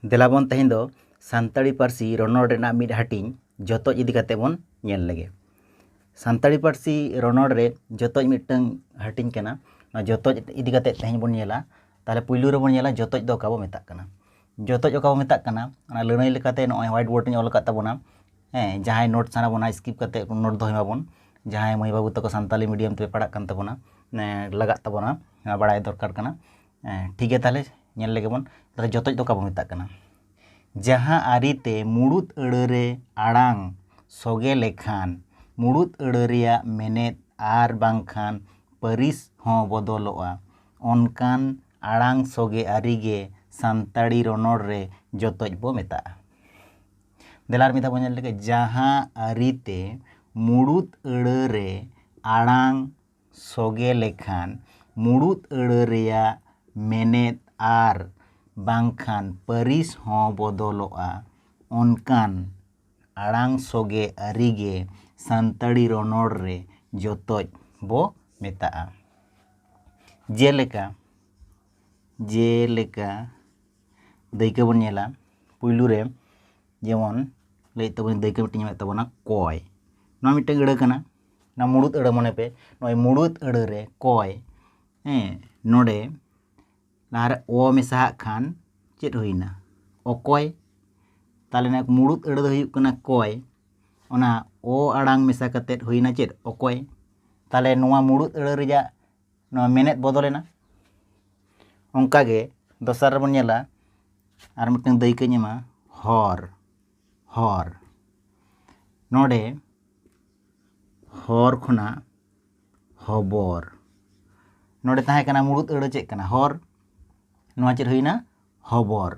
ᱫᱮᱞᱟᱵᱚᱱ ᱛᱮᱦᱮᱧ ᱫᱚ ᱥᱟᱱᱛᱟᱲᱤ ᱯᱟᱹᱨᱥᱤ ᱨᱚᱱᱚᱲ ᱨᱮᱱᱟᱜ ᱢᱤᱫ ᱦᱟᱹᱴᱤᱧ ᱡᱚᱛᱚᱡ ᱤᱫᱤ ᱠᱟᱛᱮ ᱵᱚᱱ ᱧᱮᱞ ᱞᱮᱜᱮ ᱥᱟᱱᱛᱟᱲᱤ ᱯᱟᱹᱨᱥᱤ ᱨᱚᱱᱚᱲ ᱨᱮ ᱡᱚᱛᱚᱡ ᱢᱤᱫᱴᱟᱝ ᱦᱟᱹᱴᱤᱧ ᱠᱟᱱᱟ ᱱᱚᱣᱟ ᱡᱚᱛᱚᱡ ᱤᱫᱤ ᱠᱟᱛᱮ ᱛᱮᱦᱮᱧ ᱵᱚᱱ ᱧᱮᱞᱟ ᱛᱟᱦᱚᱞᱮ ᱯᱩᱭᱞᱩ ᱨᱮᱵᱚᱱ ᱧᱮᱞᱟ ᱡᱚᱛᱚᱡ ᱫᱚ ᱚᱠᱟ ᱵᱚ ᱢᱮᱛᱟᱜ ᱠᱟᱱᱟ ᱡᱚᱛᱚᱡ ᱚᱠᱟ ᱵᱚ ᱢᱮᱛᱟᱜ ᱠᱟᱱᱟ ᱚᱱᱟ ᱞᱟᱹᱱᱟᱹᱭ ᱞᱮᱠᱟᱛᱮ ᱱᱚᱜᱼᱚᱭ ᱦᱳᱣᱟᱭᱤᱴ ᱵᱳᱨᱰ ᱨᱤᱧ ᱚᱞ ᱟᱠᱟᱫ ᱛᱟᱵᱚᱱᱟ ᱦᱮᱸ ᱡᱟᱦᱟᱸᱭ ᱱᱳᱴ ᱥᱟᱱᱟ ᱵᱚᱱᱟ ᱥᱠᱤᱯ ᱠᱟᱛᱮ ᱱᱳᱴ ᱫᱚᱦᱚᱭ ᱢᱟᱵᱚᱱ ᱡᱟᱦᱟᱸᱭ ᱢᱟᱹᱭ ᱵᱟᱹᱵᱩ ᱛᱟᱠᱚ ᱥᱟᱱᱛᱟᱲᱤ ᱢᱤᱰᱤᱭᱟᱢ ᱛᱮᱯᱮ ᱯᱟᱲᱦᱟᱜ ᱠᱟᱱ ᱛᱟᱵᱚᱱᱟ ᱞᱟᱜᱟᱜ ᱛᱟᱵᱚᱱᱟ ᱵᱟᱲᱟᱭ ᱫᱚᱨᱠᱟᱨ ᱠᱟᱱᱟ ᱴᱷᱤᱠ ᱜᱮᱭᱟ ᱛᱟᱦᱚᱞᱮ ᱧᱮᱞ ᱞᱮᱜᱮ ᱵᱚᱱ ᱛᱟᱦᱚᱞᱮ ᱡᱚᱛᱚᱡ ᱫᱚ ᱚᱠᱟ ᱵᱚᱱ ᱢᱮᱛᱟᱜ ᱠᱟᱱᱟ ᱡᱟᱦᱟᱸ ᱟᱹᱨᱤᱛᱮ ᱢᱩᱬᱩᱛ ᱟᱹᱲᱟᱹ ᱨᱮ ᱟᱲᱟᱝ ᱥᱚᱜᱮ ᱞᱮᱠᱷᱟᱱ ᱢᱩᱬᱩᱛ ᱟᱹᱲᱟᱹ ᱨᱮᱭᱟᱜ ᱢᱮᱱᱮᱛ ᱟᱨ ᱵᱟᱝᱠᱷᱟᱱ ᱯᱟᱹᱨᱤᱥ ᱦᱚᱸ ᱵᱚᱫᱚᱞᱚᱜᱼᱟ ᱚᱱᱠᱟᱱ ᱟᱲᱟᱝ ᱥᱚᱜᱮ ᱟᱹᱨᱤ ᱜᱮ ᱥᱟᱱᱛᱟᱲᱤ ᱨᱚᱱᱚᱲ ᱨᱮ ᱡᱚᱛᱚᱡ ᱵᱚ ᱢᱮᱛᱟᱜᱼᱟ ᱫᱮᱞᱟ ᱟᱨ ᱢᱤᱫ ᱫᱷᱟᱣ ᱵᱚᱱ ᱧᱮᱞ ᱞᱮᱜᱮ ᱡᱟᱦᱟᱸ ᱟᱹᱨᱤᱛᱮ ᱢᱩᱬᱩᱛ ᱟᱹᱲᱟᱹ ᱨᱮ ᱟᱲᱟᱝ ᱥᱚᱜᱮ ᱞᱮᱠᱷᱟᱱ ᱢᱩᱬᱩᱛ ᱟᱹᱲᱟᱹ ᱨᱮᱭᱟᱜ ᱢᱮᱱᱮᱛ ᱟᱨ ᱵᱟᱝᱠᱷᱟᱱ ᱯᱟᱹᱨᱤᱥ ᱦᱚᱸ ᱵᱚᱫᱚᱞᱚᱜᱼᱟ ᱚᱱᱠᱟᱱ ᱟᱲᱟᱝ ᱥᱚᱜᱮ ᱟᱹᱨᱤ ᱜᱮ ᱥᱟᱱᱛᱟᱲᱤ ᱨᱚᱱᱚᱲ ᱨᱮ ᱡᱚᱛᱚᱡ ᱵᱚ ᱢᱮᱛᱟᱜᱼᱟ ᱡᱮᱞᱮᱠᱟ ᱡᱮᱞᱮᱠᱟ ᱫᱟᱹᱭᱠᱟᱹ ᱵᱚᱱ ᱧᱮᱞᱟ ᱯᱩᱭᱞᱩ ᱨᱮ ᱡᱮᱢᱚᱱ ᱞᱟᱹᱭᱮᱫ ᱛᱟᱵᱚᱱᱟᱹᱧ ᱫᱟᱹᱭᱠᱟᱹ ᱢᱤᱫᱴᱮᱱ ᱮᱢᱮᱫ ᱛᱟᱵᱚᱱᱟ ᱠᱚᱭ ᱱᱚᱣᱟ ᱢᱤᱫᱴᱮᱱ ᱟᱹᱲᱟᱹ ᱠᱟᱱᱟ ᱱᱚᱣᱟ ᱢᱩᱲᱩᱫ ᱟᱹᱲᱟᱹ ᱢᱚᱱᱮ ᱯᱮ ᱱᱚᱜᱼᱚᱭ ᱢᱩᱲᱩᱫ ᱟᱹᱲᱟᱹ ᱨᱮ ᱠᱚᱭ ᱦᱮᱸ ᱱᱚᱰᱮ ᱞᱟᱦᱟᱨᱮ ᱚ ᱢᱮᱥᱟᱦᱟᱜ ᱠᱷᱟᱱ ᱪᱮᱫ ᱦᱩᱭᱱᱟ ᱚᱠᱚᱭ ᱛᱟᱦᱚᱞᱮ ᱱᱟᱜ ᱢᱩᱲᱩᱫ ᱟᱹᱲᱟᱹ ᱫᱚ ᱦᱩᱭᱩᱜ ᱠᱟᱱᱟ ᱠᱚᱭ ᱚᱱᱟ ᱚ ᱟᱲᱟᱝ ᱢᱮᱥᱟ ᱠᱟᱛᱮᱫ ᱦᱩᱭᱱᱟ ᱪᱮᱫ ᱚᱠᱚᱭ ᱛᱟᱦᱚᱞᱮ ᱱᱚᱣᱟ ᱢᱩᱲᱩᱫ ᱟᱹᱲᱟᱹ ᱨᱮᱭᱟᱜ ᱱᱚᱣᱟ ᱢᱮᱱᱮᱫ ᱵᱚᱫᱚᱞᱮᱱᱟ ᱚᱱᱠᱟᱜᱮ ᱫᱚᱥᱟᱨ ᱨᱮᱵᱚᱱ ᱧᱮᱞᱟ ᱟᱨ ᱢᱤᱫᱴᱟᱝ ᱫᱟᱹᱭᱠᱟᱹᱧ ᱮᱢᱟ ᱦᱚᱨ ᱦᱚᱨ ᱱᱚᱰᱮ ᱦᱚᱨ ᱠᱷᱚᱱᱟᱜ ᱦᱚᱵᱚᱨ ᱱᱚᱰᱮ ᱛᱟᱦᱮᱸ ᱠᱟᱱᱟ ᱢᱩᱲᱩᱫ ᱟᱹᱲᱟᱹ ᱪᱮᱫ ᱠᱟᱱᱟ ᱦᱚᱨ ᱱᱚᱣᱟ ᱪᱮᱫ ᱦᱩᱭᱱᱟ ᱦᱚᱵᱚᱨ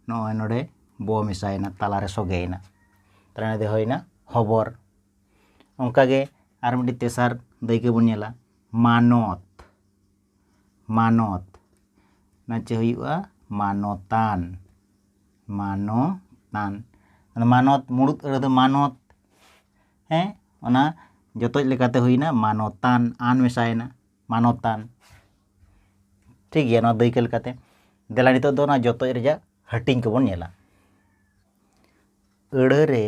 ᱱᱚᱜᱼᱚᱭ ᱱᱚᱰᱮ ᱵᱚ ᱢᱮᱥᱟᱭᱮᱱᱟ ᱛᱟᱞᱟᱨᱮ ᱥᱚᱜᱮᱭᱮᱱᱟ ᱛᱟᱦᱞᱮ ᱱᱚᱰᱮ ᱦᱩᱭᱱᱟ ᱦᱚᱵᱚᱨ ᱚᱱᱠᱟᱜᱮ ᱟᱨ ᱢᱤᱫᱴᱤᱡ ᱛᱮᱥᱟᱨ ᱫᱟᱹᱭᱠᱟᱹ ᱵᱚᱱ ᱧᱮᱞᱟ ᱢᱟᱱᱚᱛ ᱢᱟᱱᱚᱛ ᱚᱱᱟ ᱪᱮᱫ ᱦᱩᱭᱩᱜᱼᱟ ᱢᱟᱱᱚᱛᱟᱱ ᱢᱟᱱᱚᱛᱟᱱ ᱢᱟᱱᱚᱛ ᱢᱩᱬᱩᱛ ᱟᱹᱲᱟᱹ ᱫᱚ ᱢᱟᱱᱚᱛ ᱦᱮᱸ ᱚᱱᱟ ᱡᱚᱛᱚᱡ ᱞᱮᱠᱟᱛᱮ ᱦᱩᱭᱱᱟ ᱢᱟᱱᱚᱛᱟᱱ ᱟᱱ ᱢᱮᱥᱟᱭᱮᱱᱟ ᱢᱟᱱᱚᱛᱟᱱ ᱴᱷᱤᱠ ᱜᱮᱭᱟ ᱱᱚᱣᱟ ᱫᱟᱹᱭᱠᱟᱹ ᱞᱮᱠᱟᱛᱮ ᱫᱮᱞᱟ ᱱᱤᱛᱚᱜ ᱫᱚ ᱚᱱᱟ ᱡᱚᱛᱚᱡ ᱨᱮᱭᱟᱜ ᱦᱟᱹᱴᱤᱧ ᱠᱚᱵᱚᱱ ᱧᱮᱞᱟ ᱟᱹᱲᱟᱹ ᱨᱮ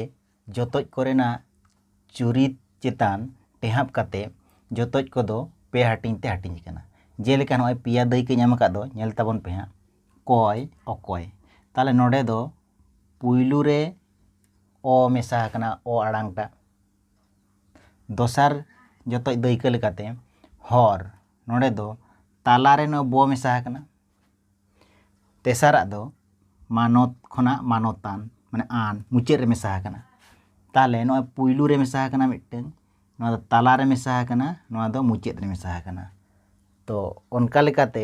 ᱡᱚᱛᱚᱡ ᱠᱚᱨᱮᱱᱟᱜ ᱪᱩᱨᱤᱛ ᱪᱮᱛᱟᱱ ᱴᱮᱦᱟᱸᱯ ᱠᱟᱛᱮ ᱡᱚᱛᱚᱡ ᱠᱚᱫᱚ ᱯᱮ ᱦᱟᱹᱴᱤᱧ ᱛᱮ ᱦᱟᱹᱴᱤᱧ ᱟᱠᱟᱱᱟ᱾ ᱡᱮᱞᱮᱠᱟ ᱱᱚᱜᱼᱚᱭ ᱯᱮᱭᱟ ᱫᱟᱹᱭᱠᱟᱹᱧ ᱮᱢ ᱟᱠᱟᱫ ᱫᱚ ᱧᱮᱞ ᱛᱟᱵᱚᱱ ᱯᱮ ᱦᱟᱸᱜ ᱠᱚᱭ, ᱚᱠᱚᱭ᱾ ᱛᱟᱦᱚᱞᱮ ᱱᱚᱰᱮ ᱫᱚ ᱯᱩᱭᱞᱩ ᱨᱮ ᱚ ᱢᱮᱥᱟ ᱟᱠᱟᱱᱟ ᱚ ᱟᱲᱟᱝ ᱴᱟᱜ᱾ ᱫᱚᱥᱟᱨ ᱡᱚᱛᱚᱡ ᱫᱟᱹᱭᱠᱟᱹ ᱞᱮᱠᱟᱛᱮ ᱦᱚᱨ, ᱱᱚᱰᱮ ᱫᱚ ᱛᱟᱞᱟ ᱨᱮ ᱱᱚᱜᱼᱚᱭ ᱵᱚ ᱢᱮᱥᱟ ᱟᱠᱟᱱᱟ᱾ ᱛᱮᱥᱟᱨᱟᱜ ᱫᱚ ᱢᱟᱱᱚᱛ ᱠᱷᱚᱱᱟᱜ ᱢᱟᱱᱚᱛᱟᱱ ᱢᱟᱱᱮ ᱟᱱ ᱢᱩᱪᱟᱹᱫ ᱨᱮ ᱢᱮᱥᱟ ᱟᱠᱟᱱᱟ ᱛᱟᱦᱚᱞᱮ ᱱᱚᱜᱼᱚᱭ ᱯᱩᱭᱞᱩ ᱨᱮ ᱢᱮᱥᱟ ᱟᱠᱟᱱᱟ ᱢᱤᱫᱴᱟᱹᱝ ᱱᱚᱣᱟ ᱫᱚ ᱛᱟᱞᱟ ᱨᱮ ᱢᱮᱥᱟ ᱟᱠᱟᱱᱟ ᱱᱚᱣᱟ ᱫᱚ ᱢᱩᱪᱟᱹᱫ ᱨᱮ ᱢᱮᱥᱟ ᱟᱠᱟᱱᱟ ᱛᱚ ᱚᱱᱠᱟ ᱞᱮᱠᱟᱛᱮ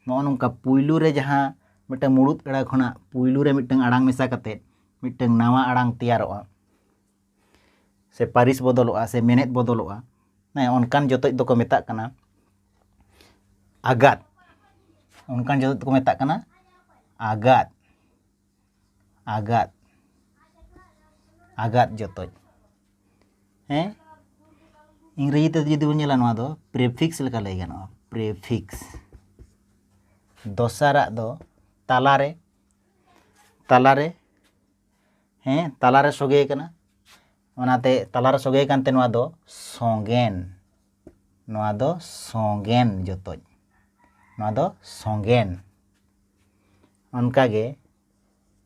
ᱱᱚᱜᱼᱚ ᱱᱚᱝᱠᱟ ᱯᱩᱭᱞᱩ ᱨᱮ ᱡᱟᱦᱟᱸ ᱢᱤᱫᱴᱟᱹᱝ ᱢᱩᱬᱩᱫ ᱟᱹᱲᱟᱹ ᱠᱷᱚᱱᱟᱜ ᱯᱩᱭᱞᱩ ᱨᱮ ᱢᱤᱫᱴᱟᱹᱝ ᱟᱲᱟᱝ ᱢᱮᱥᱟ ᱠᱟᱛᱮᱫ ᱢᱤᱫᱴᱟᱹᱝ ᱱᱟᱣᱟ ᱟᱲᱟᱝ ᱛᱮᱭᱟᱨᱚᱜᱼᱟ ᱥᱮ ᱯᱟᱹᱨᱤᱥ ᱵᱚᱫᱚᱞᱚᱜᱼᱟ ᱥᱮ ᱢᱮᱱᱮᱫ ᱵᱚᱫᱚᱞᱚᱜᱼᱟ ᱦᱮᱸ ᱚᱱᱠᱟᱱ ᱡᱚᱛᱚᱡ ᱫᱚᱠᱚ ᱢᱮᱛᱟᱜ ᱠᱟᱱᱟ ᱟᱜᱟᱛ ᱚᱱᱠᱟᱱ ᱡᱚᱛᱚᱡ ᱫᱚᱠᱚ ᱢᱮᱛᱟᱜ ᱠᱟᱱᱟ ᱟᱜᱟᱛ ᱟᱜᱟᱛ ᱟᱜᱟᱛ ᱡᱚᱛᱚᱡ ᱦᱮᱸ ᱤᱝᱨᱮᱡᱤ ᱛᱮ ᱡᱩᱫᱤ ᱵᱚᱱ ᱧᱮᱞᱟ ᱱᱚᱣᱟ ᱫᱚ ᱯᱨᱮᱯᱷᱤᱠᱥ ᱞᱮᱠᱟ ᱞᱟᱹᱭ ᱜᱟᱱᱚᱜᱼᱟ ᱯᱨᱮᱯᱷᱤᱠᱥ ᱫᱚᱥᱟᱨᱟᱜ ᱫᱚ ᱛᱟᱞᱟᱨᱮ ᱛᱟᱞᱟᱨᱮ ᱦᱮᱸ ᱛᱟᱞᱟᱨᱮ ᱥᱚᱜᱮ ᱟᱠᱟᱱᱟ ᱚᱱᱟᱛᱮ ᱛᱟᱞᱟᱨᱮ ᱥᱚᱜᱮ ᱟᱠᱟᱱᱛᱮ ᱱᱚᱣᱟ ᱫᱚ ᱥᱚᱸᱜᱮᱱ ᱱᱚᱣᱟ ᱫᱚ ᱥᱚᱸᱜᱮᱱ ᱡᱚᱛᱚᱡ ᱱᱚᱣᱟ ᱫᱚ ᱥᱚᱸᱜᱮᱱ ᱚᱱᱠᱟᱜᱮ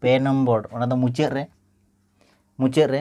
ᱯᱮ ᱱᱚᱢᱵᱚᱨ ᱚᱱᱟ ᱫᱚ ᱢᱩᱪᱟᱹᱫ ᱨᱮ ᱢᱩᱪᱟᱹᱫ ᱨᱮ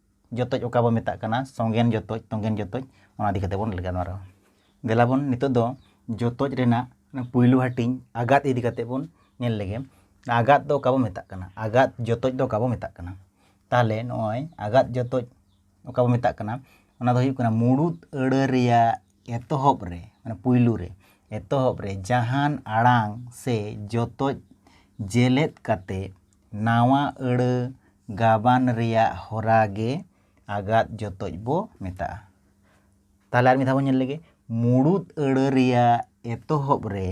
ᱡᱚᱛᱚᱡ ᱚᱠᱟ ᱵᱚᱱ ᱢᱮᱛᱟᱜ ᱠᱟᱱᱟ ᱥᱚᱸᱜᱮᱱ ᱡᱚᱛᱚᱡ ᱛᱚᱸᱜᱮᱱ ᱡᱚᱛᱚᱡ ᱚᱱᱟ ᱤᱫᱤ ᱠᱟᱛᱮ ᱵᱚᱱ ᱜᱟᱞᱢᱟᱨᱟᱣᱟ ᱫᱮᱞᱟ ᱵᱚᱱ ᱱᱤᱛᱚᱜ ᱫᱚ ᱡᱚᱛᱚᱡ ᱨᱮᱱᱟᱜ ᱯᱩᱭᱞᱩ ᱦᱟᱹᱴᱤᱧ ᱟᱜᱟᱛ ᱤᱫᱤ ᱠᱟᱛᱮ ᱵᱚᱱ ᱧᱮᱞ ᱞᱮᱜᱮ ᱟᱜᱟᱛ ᱫᱚ ᱚᱠᱟ ᱵᱚᱱ ᱢᱮᱛᱟᱜ ᱠᱟᱱᱟ ᱟᱜᱟᱛ ᱡᱚᱛᱚᱡ ᱫᱚ ᱚᱠᱟ ᱵᱚᱱ ᱢᱮᱛᱟᱜ ᱠᱟᱱᱟ ᱛᱟᱦᱚᱞᱮ ᱱᱚᱜᱼᱚᱭ ᱟᱜᱟᱛ ᱡᱚᱛᱚᱡ ᱚᱠᱟ ᱵᱚᱱ ᱢᱮᱛᱟᱜ ᱠᱟᱱᱟ ᱚᱱᱟ ᱫᱚ ᱦᱩᱭᱩᱜ ᱠᱟᱱᱟ ᱢᱩᱲᱩᱫ ᱟᱹᱲᱟᱹ ᱨᱮᱭᱟᱜ ᱮᱛᱚᱦᱚᱵ ᱨᱮ ᱢᱟᱱᱮ ᱯᱩᱭᱞᱩ ᱨᱮ ᱮᱛᱚᱦᱚᱵ ᱨᱮ ᱡᱟᱦᱟᱱ ᱟᱲᱟᱝ ᱥᱮ ᱡᱚᱛᱚᱡ ᱡᱮᱞᱮᱫ ᱠᱟᱛᱮ ᱱᱟᱶᱟ ᱟᱹᱲᱟᱹ ᱜᱟᱵᱟᱱ ᱨᱮᱭᱟᱜ ᱦᱚᱨᱟ ᱜᱮ ᱟᱜᱟᱫ ᱡᱚᱛᱚᱡ ᱵᱚ ᱢᱮᱛᱟᱜᱼᱟ᱾ ᱛᱟᱦᱚᱞᱮ ᱟᱨ ᱢᱤᱫ ᱫᱷᱟᱣ ᱵᱚ ᱧᱮᱞ ᱞᱮᱜᱮ, ᱢᱩᱲᱩᱫ ᱟᱹᱲᱟᱹ ᱨᱮᱭᱟᱜ ᱮᱛᱚᱦᱚᱵ ᱨᱮ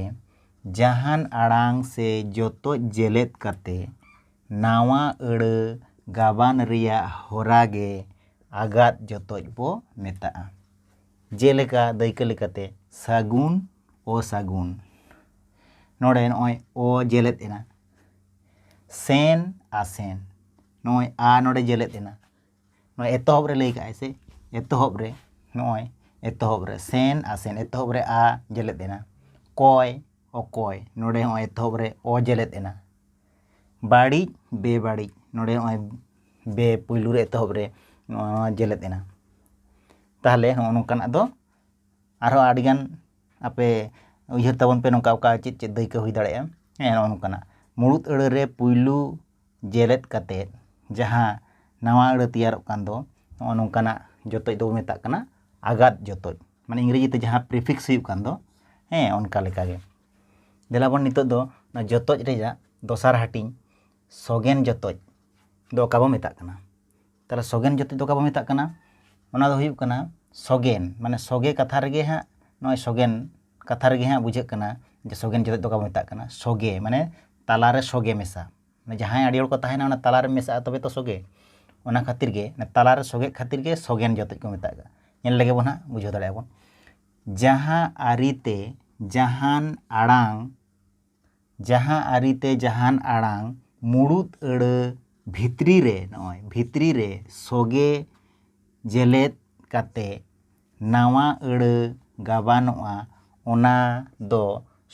ᱡᱟᱦᱟᱱ ᱟᱲᱟᱝ ᱥᱮ ᱡᱚᱛᱚᱡ ᱡᱮᱞᱮᱫ ᱠᱟᱛᱮ ᱱᱟᱶᱟ ᱟᱹᱲᱟᱹ ᱜᱟᱵᱟᱱ ᱨᱮᱭᱟᱜ ᱦᱚᱨᱟ ᱜᱮ ᱟᱜᱟᱫ ᱡᱚᱛᱚᱡ ᱵᱚ ᱢᱮᱛᱟᱜᱼᱟ᱾ ᱡᱮᱞᱮᱠᱟ, ᱫᱟᱹᱭᱠᱟᱹ ᱞᱮᱠᱟᱛᱮ, ᱥᱟᱹᱜᱩᱱ, ᱚᱥᱟᱹᱜᱩᱱ᱾ ᱱᱚᱰᱮ ᱱᱚᱜᱼᱚᱭ 'ᱚ' ᱡᱮᱞᱮᱫ ᱮᱱᱟ᱾ ᱥᱮᱱ ᱟᱥᱮᱱ ᱱᱚᱜᱼᱚᱭ ᱟ ᱱᱚᱰᱮ ᱡᱮᱞᱮᱫ ᱮᱱᱟ ᱱᱚᱜᱼᱚᱭ ᱮᱛᱚᱦᱚᱵ ᱨᱮ ᱞᱟᱹᱭ ᱠᱟᱜᱼᱟᱭ ᱥᱮ ᱮᱛᱚᱦᱚᱵ ᱨᱮ ᱱᱚᱜᱼᱚᱭ ᱮᱛᱚᱦᱚᱵ ᱨᱮ ᱥᱮᱱ ᱟᱥᱮᱱ ᱮᱛᱚᱦᱚᱵ ᱨᱮ ᱟ ᱡᱮᱞᱮᱫ ᱮᱱᱟ ᱠᱚᱭ ᱚᱠᱚᱭ ᱱᱚᱰᱮ ᱦᱚᱸ ᱮᱛᱚᱦᱚᱵ ᱨᱮ ᱚ ᱡᱮᱞᱮᱫ ᱮᱱᱟ ᱵᱟᱹᱲᱤᱡ ᱵᱮᱵᱟᱹᱲᱤᱡ ᱱᱚᱰᱮ ᱦᱚᱸᱜᱼᱚᱭ ᱵᱮ ᱯᱩᱭᱞᱩ ᱨᱮ ᱮᱛᱚᱦᱚᱵ ᱨᱮ ᱱᱚᱣᱟ ᱡᱮᱞᱮᱫ ᱮᱱᱟ ᱛᱟᱦᱚᱞᱮ ᱦᱚᱸᱜᱼᱚ ᱱᱚᱝᱠᱟᱱᱟᱜ ᱫᱚ ᱟᱨᱦᱚᱸ ᱟᱹᱰᱤ ᱜᱟᱱ ᱟᱯᱮ ᱩᱭᱦᱟᱹᱨ ᱛᱟᱵᱚᱱ ᱯᱮ ᱱᱚᱝᱠᱟ ᱚᱠᱟ ᱪᱮᱫ ᱪᱮᱫ ᱫᱟᱹᱭᱠᱟᱹ ᱦᱩᱭ ᱫᱟᱲᱮᱭᱟᱜᱼᱟ ᱦᱮᱸ ᱱᱚᱜᱼᱚ ᱱᱚᱝᱠᱟᱱᱟᱜ ᱢᱩᱬᱩᱫ ᱟᱹᱲᱟᱹ ᱨᱮ ᱯᱩᱭᱞᱩ ᱡᱮᱨᱮᱫ ᱠᱟᱛᱮ ᱡᱟᱦᱟᱸ ᱱᱟᱣᱟ ᱟᱹᱲᱟᱹ ᱛᱮᱭᱟᱨᱚᱜ ᱠᱟᱱ ᱫᱚ ᱱᱚᱜᱼᱚ ᱱᱚᱝᱠᱟᱱᱟᱜ ᱡᱚᱛᱚᱡ ᱫᱚᱵᱚ ᱢᱮᱛᱟᱜ ᱠᱟᱱᱟ ᱟᱜᱟᱛ ᱡᱚᱛᱚᱡ ᱢᱟᱱᱮ ᱤᱝᱨᱮᱡᱤ ᱛᱮ ᱡᱟᱦᱟᱸ ᱯᱨᱤᱯᱷᱤᱠᱥ ᱦᱩᱭᱩᱜ ᱠᱟᱱ ᱫᱚ ᱦᱮᱸ ᱚᱱᱠᱟ ᱞᱮᱠᱟᱜᱮ ᱫᱮᱞᱟ ᱵᱚᱱ ᱱᱤᱛᱚᱜ ᱫᱚ ᱚᱱᱟ ᱡᱚᱛᱚᱡ ᱨᱮᱭᱟᱜ ᱫᱚᱥᱟᱨ ᱦᱟᱹᱴᱤᱧ ᱥᱚᱜᱮᱱ ᱡᱚᱛᱚᱡ ᱫᱚ ᱚᱠᱟ ᱵᱚ ᱢᱮᱛᱟᱜ ᱠᱟᱱᱟ ᱛᱟᱦᱚᱞᱮ ᱥᱚᱜᱮᱱ ᱡᱟᱹᱛᱤ ᱫᱚ ᱚᱠᱟ ᱵᱚᱱ ᱢᱮᱛᱟᱜ ᱠᱟᱱᱟ ᱚᱱᱟ ᱫᱚ ᱦᱩᱭᱩᱜ ᱠᱟᱱᱟ ᱥᱚᱜᱮᱱ ᱢᱟᱱᱮ ᱥᱚᱜᱮ ᱠᱟᱛᱷᱟ ᱨᱮᱜᱮ ᱦᱟᱸᱜ ᱱᱚᱜᱼᱚᱭ ᱥᱚᱜᱮᱱ ᱠᱟᱛᱷᱟ ᱨᱮᱜᱮ ᱦᱟᱸᱜ ᱵᱩᱡᱷᱟᱹᱜ ᱠᱟᱱᱟ ᱡᱮ ᱥᱚᱜᱮᱱ ᱡᱟᱹᱛᱤ ᱫᱚ ᱚᱠᱟ ᱵᱚᱱ ᱢᱮᱛᱟᱜ ᱠᱟᱱᱟ ᱥᱚᱜᱮ ᱢᱟᱱᱮ ᱛᱟᱞᱟᱨᱮ ᱥᱚᱜᱮ ᱢᱮᱥᱟ ᱢᱟᱱᱮ ᱡᱟᱦᱟᱸᱭ ᱟᱹᱰᱤ ᱦᱚᱲ ᱠᱚ ᱛᱟᱦᱮᱱᱟ ᱚᱱᱟ ᱛᱟᱞᱟᱨᱮ ᱢᱮᱥᱟᱜᱼᱟ ᱛᱚᱵᱮ ᱛᱚ ᱥᱚᱜᱮ ᱚᱱᱟ ᱠᱷᱟᱹᱛᱤᱨ ᱜᱮ ᱛᱟᱞᱟᱨᱮ ᱥᱚᱜᱮ ᱠᱷᱟᱹᱛᱤᱨ ᱜᱮ ᱥᱚᱜᱮᱱ ᱡᱟᱹᱛᱤ ᱠᱚ ᱢᱮᱛᱟᱜ ᱠᱟᱱᱟ ᱧᱮᱞ ᱞᱮᱜᱮ ᱵᱚᱱ ᱦᱟᱸᱜ ᱵᱩᱡᱷᱟᱹᱣ ᱫᱟᱲᱮᱭᱟᱜᱼᱟ ᱵᱚᱱ ᱡᱟᱦᱟᱸ ᱟᱹᱨᱤᱛᱮ ᱡᱟᱦᱟᱱ ᱟᱲᱟᱝ ᱡᱟᱦᱟᱸ ᱟᱹᱨᱤ ᱛᱮ ᱡᱟᱦᱟᱱ ᱟᱲᱟᱝ ᱢᱩᱬᱩᱛ ᱟᱹᱲᱟᱹ ᱵᱷᱤᱛᱨᱤ ᱨᱮ, ᱱᱚᱜᱼᱚᱭ ᱵᱷᱤᱛᱨᱤ ᱨᱮ, ᱥᱚᱜᱮ ᱡᱮᱞᱮᱫ ᱠᱟᱛᱮ ᱱᱟᱶᱟ ᱟᱹᱲᱟᱹ ᱜᱟᱵᱟᱱᱚᱜᱼᱟ ᱚᱱᱟ ᱫᱚ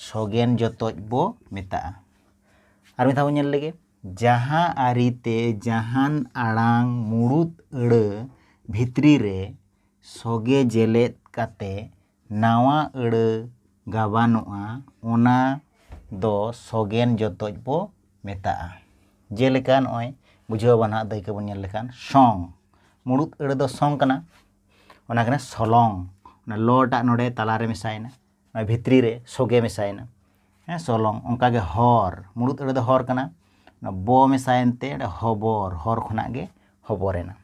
ᱥᱚᱜᱮᱱ ᱡᱚᱛᱚᱡ ᱵᱚ ᱢᱮᱛᱟᱜᱼᱟ᱾ ᱟᱨ ᱢᱤᱫ ᱫᱷᱟᱣ ᱵᱚ ᱧᱮᱞ ᱞᱮᱜᱮ, ᱡᱟᱦᱟᱸ ᱟᱹᱨᱤ ᱛᱮ ᱡᱟᱦᱟᱱ ᱟᱲᱟᱝ ᱢᱩᱬᱩᱛ ᱟᱹᱲᱟᱹ ᱵᱷᱤᱛᱨᱤ ᱨᱮ, ᱥᱚᱜᱮ ᱡᱮᱞᱮᱫ ᱠᱟᱛᱮ ᱱᱟᱶᱟ ᱟᱹᱲᱟᱹ ᱜᱟᱵᱟᱱᱚᱜᱼᱟ ᱚᱱᱟ ᱫᱚ ᱥᱚᱜᱮᱱ ᱡᱚᱛᱚᱡ ᱵᱚ ᱢᱮᱛᱟᱜᱼᱟ᱾ ᱡᱮᱞᱮᱠᱟ ᱱᱚᱜᱼᱚᱭ ᱵᱩᱡᱷᱟᱹᱣ ᱟᱵᱚᱱ ᱱᱟᱦᱟᱜ ᱫᱟᱹᱭᱠᱟᱹ ᱵᱚᱱ ᱧᱮᱞ ᱞᱮᱠᱷᱟᱱ ᱥᱚᱝ ᱢᱩᱬᱩᱛ ᱟᱹᱲᱟᱹ ᱫᱚ ᱥᱚᱝ ᱠᱟᱱᱟ ᱚᱱᱟ ᱠᱟᱱᱟ ᱥᱚᱞᱚᱝ ᱚᱱᱟ ᱞᱚ ᱴᱟᱜ ᱱᱚᱰᱮ ᱛᱟᱞᱟ ᱨᱮ ᱢᱮᱥᱟᱭᱮᱱᱟ ᱱᱚᱜᱼᱚᱭ ᱵᱷᱤᱛᱨᱤ ᱨᱮ ᱥᱚᱜᱮ ᱢᱮᱥᱟᱭᱮᱱᱟ ᱦᱮᱸ ᱥᱚᱞᱚᱝ ᱚᱱᱠᱟ ᱜᱮ ᱦᱚᱨ ᱢᱩᱬᱩᱛ ᱟᱹᱲᱟᱹ ᱫᱚ ᱦᱚᱨ ᱠᱟᱱᱟ ᱚᱱᱟ ᱵᱚ ᱢᱮᱥᱟᱭᱮᱱ ᱛᱮ ᱚᱸᱰᱮ ᱦᱚᱵᱚᱨ ᱦᱚᱨ ᱠᱷᱚᱱᱟᱜ ᱜᱮ ᱦᱚᱵᱚᱨᱮᱱᱟ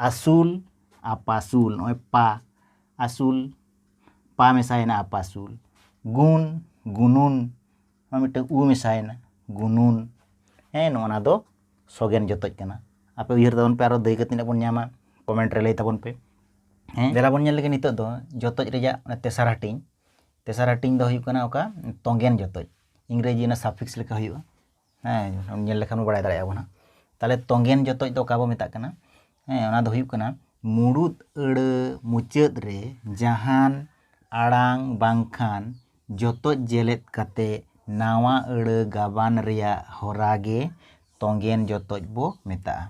ᱟᱹᱥᱩᱞ ᱟᱯᱟᱥᱩᱞ ᱱᱚᱜᱼᱚᱭ ᱯᱟ ᱟᱹᱥᱩᱞ ᱯᱟ ᱢᱮᱥᱟᱭᱮᱱᱟ ᱟᱯᱟᱥᱩᱞ ᱜᱩᱱ ᱜᱩᱱᱩᱱ ᱱᱚᱣᱟ ᱢᱤᱫᱴᱟᱝ ᱩ ᱢᱮᱥᱟᱭᱮᱱᱟ ᱜᱩᱱᱩᱱ ᱦᱮᱸ ᱱᱚᱜᱼᱚ ᱱᱟ ᱫᱚ ᱥᱚᱜᱮᱱ ᱡᱚᱛᱚᱡ ᱠᱟᱱᱟ ᱟᱯᱮ ᱩᱭᱦᱟᱹᱨ ᱛᱟᱵᱚᱱ ᱯᱮ ᱟᱨᱚ ᱫᱟᱹᱭᱠᱟᱹ ᱛᱤᱱᱟᱹᱜ ᱵᱚᱱ ᱧᱟᱢᱟ ᱠᱚᱢᱮᱱᱴ ᱨᱮ ᱞᱟᱹᱭ ᱛᱟᱵᱚᱱ ᱯᱮ ᱦᱮᱸ ᱫᱮᱞᱟ ᱵᱚᱱ ᱧᱮᱞ ᱞᱮᱜᱮ ᱱᱤᱛᱚᱜ ᱫᱚ ᱡᱚᱛᱚᱡ ᱨᱮᱭᱟᱜ ᱛᱮᱥᱟᱨ ᱦᱟᱹᱴᱤᱧ ᱛᱮᱥᱟᱨ ᱦᱟᱹᱴᱤᱧ ᱫᱚ ᱦᱩᱭᱩᱜ ᱠᱟᱱᱟ ᱚᱠᱟ ᱛᱚᱸᱜᱮᱱ ᱡᱚᱛᱚᱡ ᱤᱝᱨᱮᱡᱤ ᱚᱱᱟ ᱥᱟᱯᱷᱤᱠᱥ ᱞᱮᱠᱟ ᱦᱩᱭᱩᱜᱼᱟ ᱦᱮᱸ ᱧᱮᱞ ᱞᱮᱠᱷᱟᱱ ᱵᱚ ᱵᱟᱲᱟᱭ ᱫᱟᱲᱮᱭᱟᱜᱼᱟ ᱵᱚᱱ ᱦᱟᱸᱜ ᱛᱟᱦᱚᱞᱮ ᱛᱚᱜᱮᱱ ᱡᱚᱛᱚᱡ ᱫᱚ ᱚᱠᱟ ᱵᱚ ᱢᱮᱛᱟᱜ ᱠᱟᱱᱟ ᱦᱮᱸ ᱚᱱᱟ ᱫᱚ ᱦᱩᱭᱩᱜ ᱠᱟᱱᱟ ᱢᱩᱬᱩᱛ ᱟᱹᱲᱟᱹ ᱢᱩᱪᱟᱹᱫ ᱨᱮ ᱡᱟᱦᱟᱱ ᱟᱲᱟᱝ ᱵᱟᱝᱠᱷᱟᱱ ᱡᱚᱛᱚᱡ ᱡᱮᱞᱮᱫ ᱠᱟᱛᱮ ᱱᱟᱣᱟ ᱟᱹᱲᱟᱹ ᱜᱟᱵᱟᱱ ᱨᱮᱭᱟᱜ ᱦᱚᱨᱟ ᱜᱮ ᱛᱚᱜᱮᱱ ᱡᱚᱛᱚᱡ ᱵᱚ ᱢᱮᱛᱟᱜᱼᱟ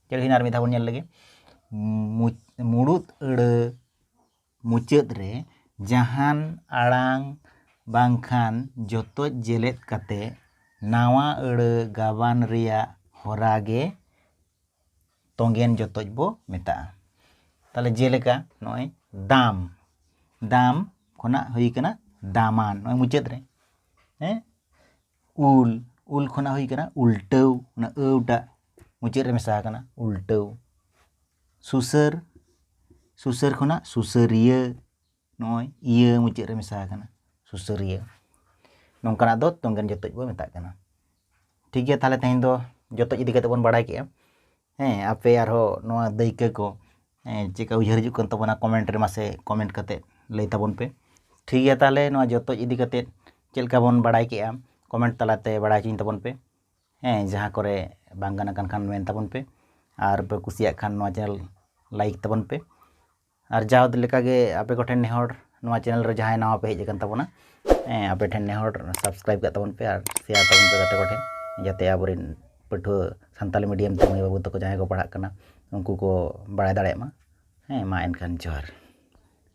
ᱪᱮᱫ ᱦᱩᱭᱱᱟ ᱟᱨ ᱢᱤᱫ ᱫᱷᱟᱣ ᱵᱚᱱ ᱧᱮᱞ ᱞᱮᱜᱮ ᱢᱩᱬᱩᱛ ᱟᱹᱲᱟᱹ ᱢᱩᱪᱟᱹᱫ ᱨᱮ ᱡᱟᱦᱟᱱ ᱟᱲᱟᱝ ᱵᱟᱝᱠᱷᱟᱱ ᱡᱚᱛᱚᱡ ᱡᱮᱞᱮᱫ ᱠᱟᱛᱮ ᱱᱟᱣᱟ ᱟᱹᱲᱟᱹ ᱜᱟᱵᱟᱱ ᱨᱮᱭᱟᱜ ᱦᱚᱨᱟ ᱜᱮ ᱛᱚᱜᱮᱱ ᱡᱚᱛᱚᱡ ᱵᱚ ᱢᱮᱛᱟᱜᱼᱟ ᱛᱟᱦᱚᱞᱮ ᱡᱮᱞᱮᱠᱟ ᱱᱚᱜᱼᱚᱭ ᱫᱟᱢ ᱫᱟᱢ ᱠᱷᱚᱱᱟᱜ ᱦᱩᱭ ᱠᱟᱱᱟ ᱫᱟᱢᱟᱱ ᱱᱚᱜᱼᱚᱭ ᱢᱩᱪᱟᱹᱫ ᱨᱮ ᱦᱮᱸ ᱩᱞ ᱩᱞ ᱠᱷᱚᱱᱟᱜ ᱦᱩᱭ ᱠᱟᱱᱟ ᱩᱞᱴᱟᱹᱣ ᱚᱱᱟ ᱟᱹᱣ ᱴᱟᱜ ᱢᱩᱪᱟᱹᱫ ᱨᱮ ᱢᱮᱥᱟ ᱟᱠᱟᱱᱟ ᱩᱞᱴᱟᱹᱣ ᱥᱩᱥᱟᱹᱨ ᱥᱩᱥᱟᱹᱨ ᱠᱷᱚᱱᱟᱜ ᱥᱩᱥᱟᱹᱨᱤᱭᱟᱹ ᱱᱚᱜᱼᱚᱭ ᱤᱭᱟᱹ ᱢᱩᱪᱟᱹᱫ ᱨᱮ ᱢᱮᱥᱟ ᱟᱠᱟᱱᱟ ᱥᱩᱥᱟᱹᱨᱤᱭᱟᱹ ᱱᱚᱝᱠᱟᱱᱟᱜ ᱫᱚ ᱛᱚᱝᱜᱮᱱ ᱡᱚᱛᱚᱡ ᱵᱚᱱ ᱢᱮᱛᱟᱜ ᱠᱟᱱᱟ ᱴᱷᱤᱠ ᱜᱮᱭᱟ ᱛᱟᱦᱚᱞᱮ ᱛᱮᱦᱮᱧ ᱫᱚ ᱡᱚᱛᱚᱡ ᱤᱫᱤ ᱠᱟᱛᱮ ᱵᱚᱱ ᱵᱟᱲᱟᱭ ᱠᱮᱜᱼᱟ ᱦᱮᱸ ᱟᱯᱮ ᱟᱨᱦᱚᱸ ᱱᱚᱣᱟ ᱫᱟᱹᱭᱠᱟᱹ ᱠᱚ ᱪᱮᱫᱠᱟ ᱩᱭᱦᱟᱹᱨ ᱦᱤᱡᱩᱜ ᱠᱟᱱ ᱛᱟᱵᱚᱱᱟ ᱠᱚᱢᱮᱱᱴ ᱨᱮ ᱢᱟᱥᱮ ᱠᱚᱢᱮᱱᱴ ᱠᱟᱛᱮ ᱞᱟᱹᱭ ᱛᱟᱵᱚᱱ ᱯᱮ ᱴᱷᱤᱠ ᱜᱮᱭᱟ ᱛᱟᱦᱚᱞᱮ ᱱᱚᱣᱟ ᱡᱚᱛᱚᱡ ᱤᱫᱤ ᱠᱟᱛᱮ ᱪᱮᱫ ᱞᱮᱠᱟ ᱵᱚᱱ ᱵᱟᱲᱟᱭ ᱠᱮᱜᱼᱟ ᱠᱚᱢᱮᱱᱴ ᱛᱟᱞᱟᱛᱮ ᱵᱟᱲᱟᱭ ᱦᱚᱪᱚᱧ ᱛᱟᱵᱚᱱ ᱯᱮ ᱦᱮᱸ ᱡᱟᱦᱟᱸ ᱠᱚᱨᱮ ᱵᱟᱝ ᱜᱟᱱ ᱟᱠᱟᱱ ᱠᱷᱟᱱ ᱢᱮᱱ ᱛᱟᱵᱚᱱ ᱯᱮ ᱟᱨ ᱯᱮ ᱠᱩᱥᱤᱭᱟᱜ ᱠᱷᱟᱱ ᱱᱚᱣᱟ ᱪᱮᱱᱮᱞ ᱞᱟᱭᱤᱠ ᱛᱟᱵᱚᱱ ᱯᱮ ᱟᱨ ᱡᱟᱣ ᱞᱮᱠᱟᱜᱮ ᱟᱯᱮ ᱠᱚᱴᱷᱮᱱ ᱱᱮᱦᱚᱨ ᱱᱚᱣᱟ ᱪᱮᱱᱮᱞ ᱨᱮ ᱡᱟᱦᱟᱸᱭ ᱱᱟᱣᱟ ᱯᱮ ᱦᱮᱡ ᱟᱠᱟᱱ ᱛᱟᱵᱚᱱᱟ ᱦᱮᱸ ᱟᱯᱮ ᱴᱷᱮᱱ ᱱᱮᱦᱚᱨ ᱥᱟᱵᱥᱠᱨᱟᱭᱤᱵᱽ ᱠᱟᱜ ᱛᱟᱵᱚᱱ ᱯᱮ ᱟᱨ ᱥᱮᱭᱟᱨ ᱛᱟᱵᱚᱱ ᱯᱮ ᱜᱟᱛᱮ ᱠᱚᱴᱷᱮᱱ ᱡᱟᱛᱮ ᱟᱵᱚᱨᱮᱱ ᱯᱟᱹᱴᱷᱩᱣᱟᱹ ᱥᱟᱱᱛᱟᱞᱤ ᱢᱤᱰᱤᱭᱟᱢ ᱛᱮ ᱢᱟᱹᱭ ᱵᱟᱹᱵᱩ ᱛᱟᱠᱚ ᱡᱟᱦᱟᱸᱭ ᱠᱚ ᱯᱟᱲᱦᱟᱜ ᱠᱟᱱᱟ ᱩᱱᱠᱩ ᱠᱚ ᱵᱟᱲᱟᱭ ᱫᱟᱲᱮᱭᱟᱜ ᱢᱟ ᱦᱮᱸ ᱢᱟ ᱮᱱᱠᱷᱟᱱ ᱡᱚᱦᱟᱨ